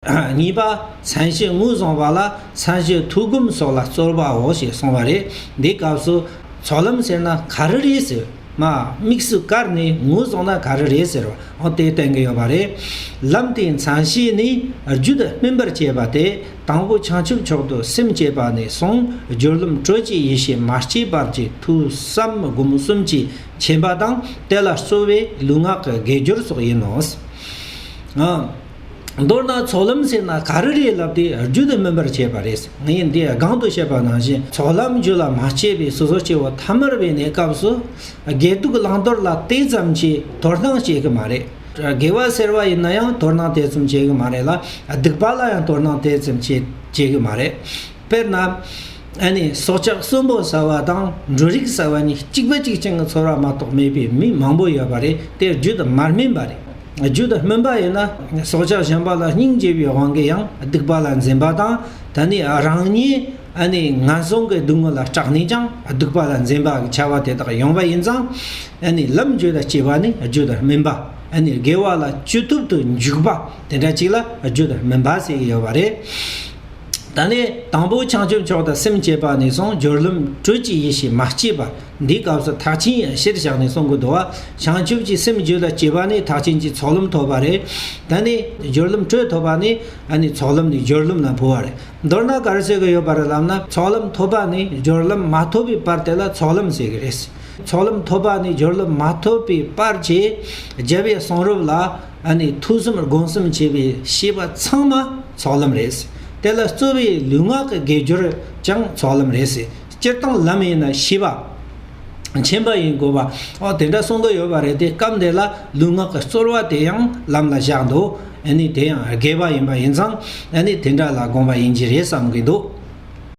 གཉིས་པ། མཚན་གཞི་དངོས་བཟུང་བ་ལ་མཚན་གཞི་ཐུགས་སྒོམ་སོགས་ལ་རྩོལ་བའོ་ཞེས་གསུངས་པ་རེད། འདིའི་སྐབས་སུ། ཚོགས་ལམ་ཟེར་ན་ག་རེ་རེད་ཟེར། དམིགས་སུ་བཀར་ནས་ངོས་བཟུང་ན་ག་རེ་རེད་ཟེར། འོ་དེ་བསྟན་གྱི་ཡོད་པ་རེད། ལམ་དེའི་མཚན་གཞི་ནི་རྒྱུད་སྨིན་པར་བྱེད་པ་སྟེ། དང་པོ་བྱང་ཆུབ་མཆོག་ཏུ་སེམས་བསྐྱེད་པ་ནས་བཟུང་སྦྱོར་ལམ་དྲོད་ཀྱི་ཡེ་ཤེས་མ་སྐྱེས་བར་གྱི་ཐུགས་བསམ་སྒོམ་གསུམ་གྱིས་མཁྱེན་པ་དང་དེ་ལ་རྩོལ་བས་ལུས་ངག་གི་དགེ་སྦྱོར་སོགས་ཡིན་ནོ། མདོར་ན་ཚོགས་ལམ་ཟེར་ན་ག་རེ་རེད་ལབ་སྟེ་རྒྱུད་དུ་སྨིན་པར་བྱེད་པ་རེད། ངས་འདིར་སྒང་དུ་བཤད་པ་ནང་བཞིན་ཚོགས་ལམ་རྒྱུད་ལ་མ་སྐྱེས་པའི་སོ་སོ་སྐྱེ་བོ་ཐ་མར་བས་ནས་སྐབས་སུ་དགེ་སྡུག་བླང་དོར་ལ་དེ་ཙམ་གྱིས་དོར་སྣང་བྱེད་གི་མ་རེད། དགེ་བ་ཟེར་བ་ཡིན་ན་ཡང་དོར་སྣང་དེ་ཙམ་བྱེད་གི་མ་རེད་ལ་སྡིག་པ་ལ་ཡང་དོར་སྣང་དེ་ཙམ་བྱེད་གི་མ་རེད། དཔེར་ན། སྲོག་ཆགས་གསོན་པོ་ཟ་བ་དང་འབྲུ་རིགས་ཟ་བ་གཉིས་གཅིག་པ་གཅིག་ཅན་གྱི་ཚོར་བ་མ་གཏོགས་མེད་པའི་མི་མང་པོ་ཡོད་པ་རེད་དེ་རྒྱུད་དུ་མར་སྨིན་པ་རེད། རྒྱུད་དུ་སྨིན་པ་ཡིན་ན་སྲོག་ཆགས་གཞན་པ་ལ་སྙིང་རྗེ་བའི་དབང་གིས་ཡང་སྡིག་པ་ལ་འཛེམ་པ་དང་ད་ནི་རང་ཉིད་ངན་སོང་གི་སྡུག་བསྔལ་ལ་སྐྲག་ནས་ཀྱང་སྡིག་པ་ལ་འཛེམ་པ་གི་བྱ་བ་དེ་དག་ཡོང་བ་ཡིན་ཙང། ལམ་རྒྱུད་ལ་སྐྱེས་པ་ནི་རྒྱུད་དུ་སྨིན་པ། དགེ་བ་ལ་སྐྱོད་ཐུབ་ཏུ་འཇུག་པ་དེ་འདྲ་གཅིག་ལ་རྒྱུད་དུ་སྨིན་པ་ཟེར་གྱི་ཡོད་པ་རེད། ད་ནི་དང་པོ་བྱང་ཆུབ་མཆོག་དང་སེམས་བསྐྱེད་པ་ནས་བཟུང་སྦྱོར་ལམ་དྲོད་ཀྱི་ཡེ་ཤེས་མ་སྐྱེས་པ་འདིའི་སྐབས་སུ་ཐག་ཆེན་ཡང་གཞིར་བཞག་ནས་གསུང་གི་འདུག་བྱང་ཆུབ་ཀྱི་སེམས་རྒྱུད་ལ་སྐྱེས་པ་ནི་ཐག་ཆེན་གྱི་ཚོགས་ལམ་ཐོབ་པ་རེད། ད་ནི་སྦྱོར་ལམ་དྲོད་ཐོབ་པ་ནི་ཚོགས་ལམ་ནས་སྦྱོར་ལམ་ལ་འཕོ་བ་རེད། མདོར་ན་གར་ཟེར་གི་ཡོད་པ་རེད་ལབ་ན་ཚོགས་ལམ་ཐོབ་པ་ནི་སྦྱོར་ལམ་མ་ཐོབ་པའི་པར་དེ་ལ་ཚོགས་ལམ་ཟེར་གི་རེད། ཚོགས་ལམ་ཐོབ་པ་ནི་སྦྱོར་ལམ་མ་ཐོབ་པའི་པར་གྱི་རྒྱལ་བའི་གསུང་རབ་ལ། ཨ་ནི་ཐུགས་གསུམ་སྒོམ་གསུམ་བྱེད་པའི་ཤེས་པ་ཚང་མ་ཚོགས་ལམ་རེད། དེ་ལ་རྩོལ་བའི་ལུས་ངག་གི་དགེ་སྦྱོར་ཀྱང་ཚོགས་ལམ་རེད། སྤྱིར་བཏང་ལམ་ཡིན་ན་བྱིས་པ། ཆེན་པ་ཡིན་དགོས་པ། ཨོ་དེ་འདྲ་གསུང་གི་ཡོད་པ་རེད་དེ་སྐབས་འདི་ལ་ལུས་ངག་གི་རྩོལ་བ་དེ་ཡང་ལམ་ལ་བཞག་འདུག་ཨ་ནི་དེ་ཡང་དགེ་བ་ཡིན་པ་ཡིན་ཙང་ཨ་ནི་དེ་འདྲ་ལ་དགོངས་པ་ཡིན་གྱི་རེད་བསམ་གི་འདུག།